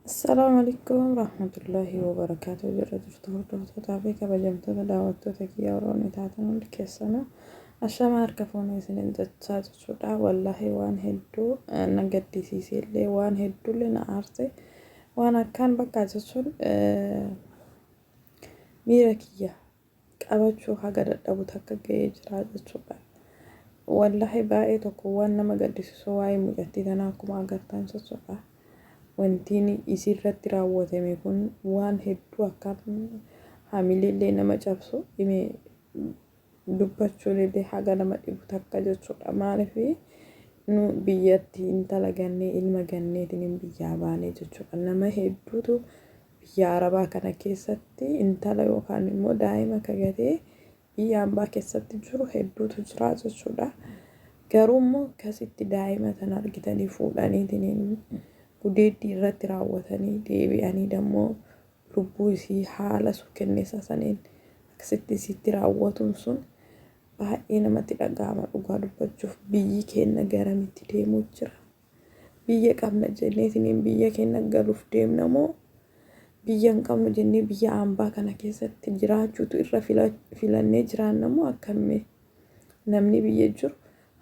Assalaamu alaikum rahmatullahi wa barakaatu jirra jirtu hordoftoota fi kabajamtoota daawwattoota kiyya warroonni taatan hundi keessanuu ashama harka fuunee isinin jechaa jechuudha wallahi waan hedduu na gaddisiisee illee waan hedduullee na aarse waan akkaan bakka jechuun miira kiyya qabachuu haga dadhabu takka gayee jiraa jechuudha wallahi baayee tokko waan nama gaddisisuu waa'ee mucattii tanaa akkuma agartan jechuudha wantiin isii irratti raawwatame kun waan hedduu akkaan hamileellee nama cabsu ime dubbachuunillee haga nama dhibu takka jechuudha maaliif nu biyyatti intala gannee ilma ganneetiin biyyaa baanee jechuudha nama hedduutu Biyya Arabaa kana keessatti intala yookaan immoo daa'ima ka gatee biyya ambaa keessatti jiru hedduutu jira jechuudha. Garuu immoo akkasitti daa'ima tana argitanii fuudhaniitiin gudeeddii irratti raawwatanii deebi'anii dammoo lubbuu isii haala sukkenneessaa saniin akkasitti isiitti raawwatuun sun baay'ee namatti dhaga'ama dhugaa dubbachuuf biyyi keenna garamitti deemuu jira. Biyya qabna jenneetiniin biyya keenya galuuf deemna moo biyya hin qabnu jennee biyya hambaa kana keessatti jiraachuutu irra filannee jiraanna moo akkamii namni biyya jiru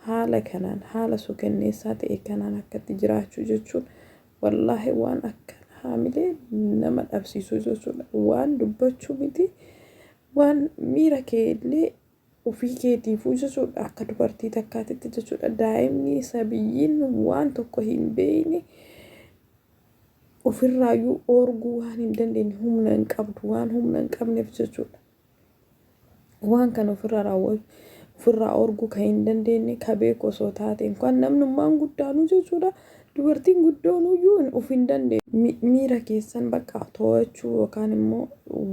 haala kanaan haala suukanneessaa ta'e kanaan akkatti jiraachuu jechuun wallaahi waan akka haamilee nama dhabsiisuu jechuudha waan dubbachuu miti waan miira kee illee Ofii keetiifuu jechuudha akka dubartii takkaatitti jechuudha daa'imni sabiyyiin waan tokko hin beeyne ofirraayyuu oorguu waan hin dandeenye humna hin qabdu waan humna hin qabneef jechuudha. Waan kana ofirraa raawwatu ofirraa oorguu kan hin dandeenye ka beeku osoo taateen kan namnummaan guddaanuu jechuudha Dubartiin guddoonuyyuu of hin dandeenye. Miira keessan bakka to'achuu yookaan immoo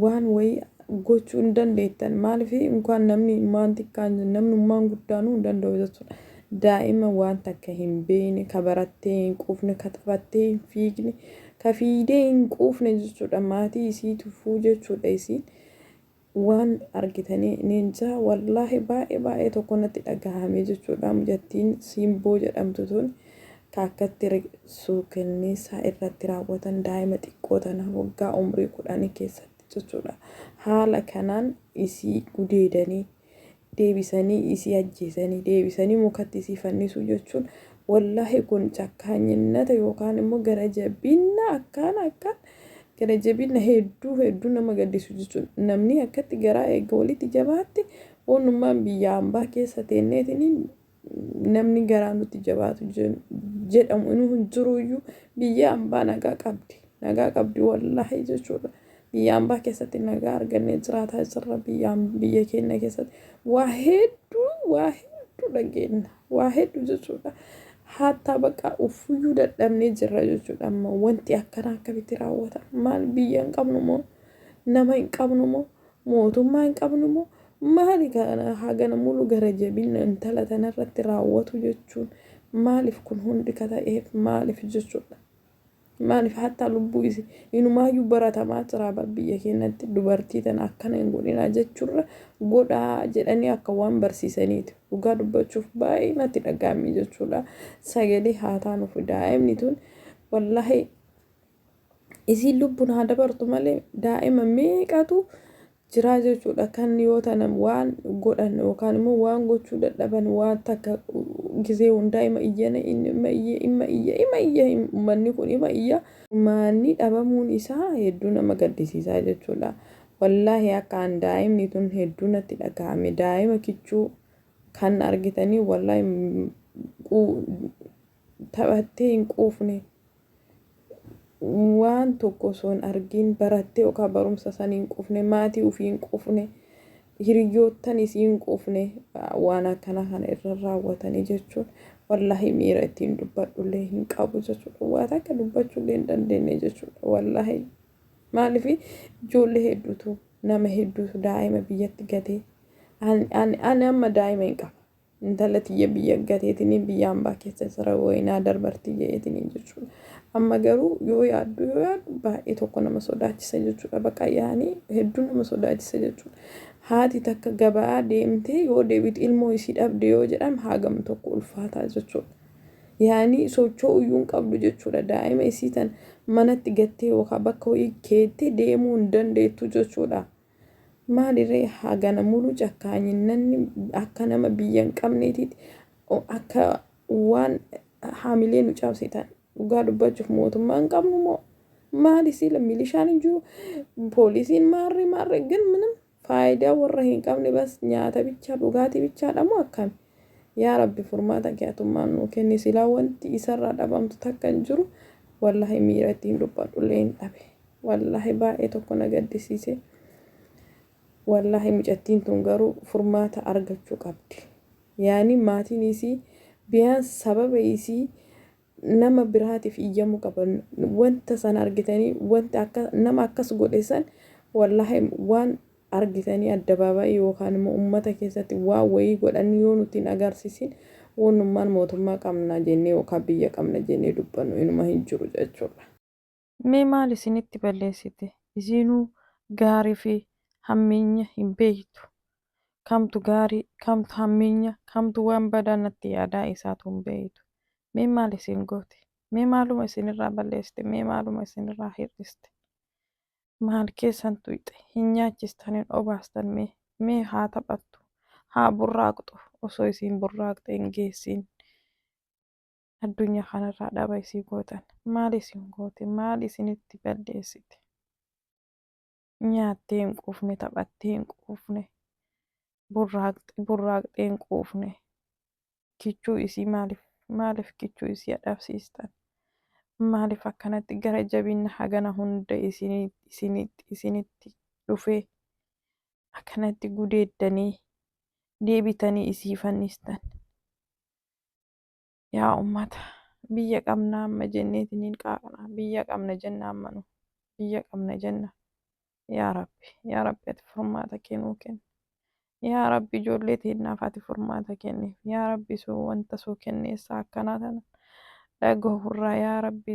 waan wayii gochuu hin dandeettan. Maaliif inkaan namni maan xiqqaan namnummaan guddaanuu hin danda'u jechuudha. Daa'ima waan takka hin beekne, ka barattee hin quufne, ka taphattee hin fiigne, ka fiidee hin quufne jechuudha. Maatii isii tufuu jechuudha isiin. Waan argitanii ninjaa wallahi baay'ee baay'ee tokko natti dhagahame jechuudha mucattiin siimboo jedhamtu tun ta akkatti suukenniisaa irratti raawwatan daa'ima xiqqoo tana waggaa umrii kudhanii keessatti jechuudha haala kanaan isii gudeedanii deebisanii isii ajjeesanii deebisanii mukatti isii fannisuu jechuun wallaahi kun cakkaanyinnata yookaan immoo gara jabinna akkaan akkaan gara jabinna hedduu hedduu nama gaddisu jechuun namni akkatti garaa eegga walitti jabaatte oonnummaan biyya ambaa keessa teenneetiniin namni garaa nutti jabaatu jen- jedhamu inuu hin jiruyyuu biyya ambaa nagaa qabdi nagaa qabdi wallaahi jechuudha biyya ambaa keessatti nagaa argannee jiraataa jirra biyya am- biyya keenya keessatti waa hedduu waa hedduu dhageenna waa hedduu jechuudha haattaa baqaa uffuyyuu dadhabnee jirra jechuudha amma wanti akkanaa akkamitti raawwata maal biyya hin qabnu moo nama hin qabnu moo Mootummaa hin qabnu moo maali kana hagana mulu gara jabinna intala tana irratti raawwatu jechuun maalif kun hundi ka ta'eef maalif jechuudha maalif hattaa lubbuu isi inumaayyuu baratamaa jiraa bar biyya keenyatti dubartii tana akkana hin godhinaa jechuurra godhaa jedhanii akka waan barsiisaniiti dhugaa dubbachuuf baay'ee natti dhaga'amee jechuudha sagalee haataa nuuf daa'imni tun wallaahi isiin lubbun haa dabartu malee daa'ima meeqatu jiraa jechuudha kan yoo tana waan godhan yookaan immoo waan gochuu dadhaban waan takka gizee hundaa ima iyyana inni ima iyya ima iyya ima iyya ummanni kun ima iyya maanni dhabamuun isaa hedduu nama gaddisiisaa jechuudha wallaahi akkaan daa'imni tun hedduu natti dhaga'ame daa'ima kichuu kan argitanii wallaahi taphattee hin quufne. waan tokko osoo hin argiin barattee yookaan barumsa san hin quufne maatii ofii hin quufne hiriyyoottan isii hin quufne waan akkana kana irra raawwatanii jechuun wallaahi miira ittiin dubbadhullee hin qabu jechuudha waan akka dubbachullee hin dandeenye jechuudha wallaahi maaliif ijoollee hedduutu nama hedduutu daa'ima biyyatti gatee ani amma daa'ima hin qaba Intala tiyya biyya gateetini biyya ambaa keessa sira woyinaa darbarti je'eetini jechuudha. Amma garuu yoo yaaddu yoo yaaddu baay'ee tokko nama sodaachisa jechuudha. Baqa yaani hedduu nama sodaachisa jechuudha. Haati takka gabaa deemtee yoo deebitu ilmoo isii dhabde yoo jedhan haagam tokko ulfaataa jechuudha. Yaani socho'uu iyyuu hin qabdu jechuudha. Daa'ima isii tan manatti gattee yookaan bakka wayii keettee deemuu hin dandeettu jechuudha. Maali ree hagana mulu cakkaanyinnanni akka nama biyya hin qabneetiiti akka waan haamilee nu cabsitan dhugaa dubbachuuf mootummaa hin qabnu moo maali siila milishaan hin jiru poolisiin maarree maarree gin minim faayidaa warra hin qabne bas nyaata bichaa dhugaatii bichaadha moo akkami Yaa rabbi furmaata kee atummaan nuu kenni silaa wanti isarraa dhabamtu takka hin jiru wallahi miira ittiin dubbadhulleen dhabe wallahi baay'ee tokko na gaddisiise wallahi mucattiin tun garuu furmaata argachuu qabdi yaani maatiin isii biyaan sababa isii nama biraatiif iyyamu qaban wanta san argitanii wanta akka nama akkas godhe san wallaahi waan argitanii addabaabaayii yookaan immoo ummata keessatti waan wayii godhan yoo nuti hin agarsiisin wannummaan mootummaa qabna jennee yookaan biyya qabna jennee dubbannu inuma hin jiru jechuudha. Mee maal isinitti balleessite? Isiinuu gaarii fi hammeenya hin beektu. Kamtu gaarii, kamtu hammeenya, kamtu waan badaa natti yaadaa isaatu hin beektu. Mee maal isin goote? Mee maaluma isinirraa balleessite? Mee maaluma isinirraa hir'iste? Maal keessan tuyxe? Hin nyaachistan, hin obaastan mee? Mee haa taphattu, haa burraaqxu, osoo isiin burraaqxe hin geessiin. addunyaa kanarraa dhaba isii gootan maal isin goote maal isinitti balleessite nyaattee hin quufne taphattee hin quufne burraaqxe burraaqxee hin quufne kichuu isii maaliif maaliif kichuu isii adhabsiistan maaliif akkanatti gara jabinna hagana hunda isini- isinitti isinitti dhufee akkanatti gudeeddanii deebitanii isii fannistan yaa ummata biyya qabna amma jenneetiniin qaaqna biyya qabna jenna amma nu biyya qabna jenna yaa rabbi yaa rabbi ati furmaata kennuu kenna yaa rabbi ijoollee teennaaf ati furmaata kenni yaa rabbi suu wanta suu kenneessa akkanaa tana dhagahurraa yaa rabbi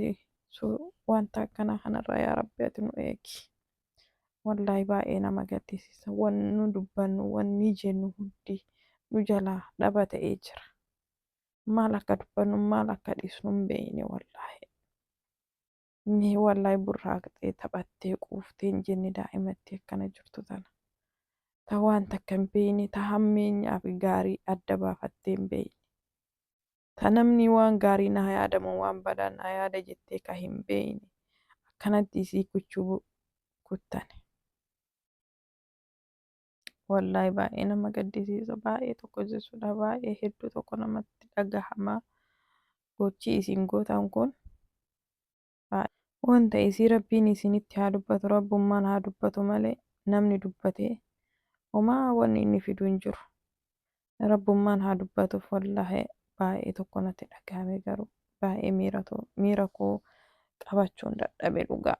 suu wanta akkanaa kanarraa yaa rabbi ati nu eegi wallaahi baay'ee nama gaddisiisa wanni nu dubbannu wanni jennu hundi nu jalaa dhaba ta'ee jira maal akka dubbannu maal akka dhiisnu hin beekne wallaahi. Mee wallaahi burraaqxee taphattee quuftee hin jenne daa'imatti akkana jirtu tana. Ta waan takka hin beekne ta hammeenyaa fi gaarii adda baafattee hin beekne. Ta namni waan gaarii na haa yaadamu waan badaa na haa yaada jettee ka hin beekne akkanatti isii kuchuu kuttane. Wallaahi baay'ee nama gaddisiisa baay'ee tokko jechuudha baay'ee hedduu tokko namatti dhagahama gochii isin gootan kun wanta isii rabbiin isinitti haa dubbatu rabbummaan haa dubbatu malee namni dubbatee homaa wanni inni fidu hin jiru rabbummaan haa dubbatuuf wallaahi baay'ee tokko natti dhagahame garuu baay'ee miira koo qabachuun dadhabe dhugaa.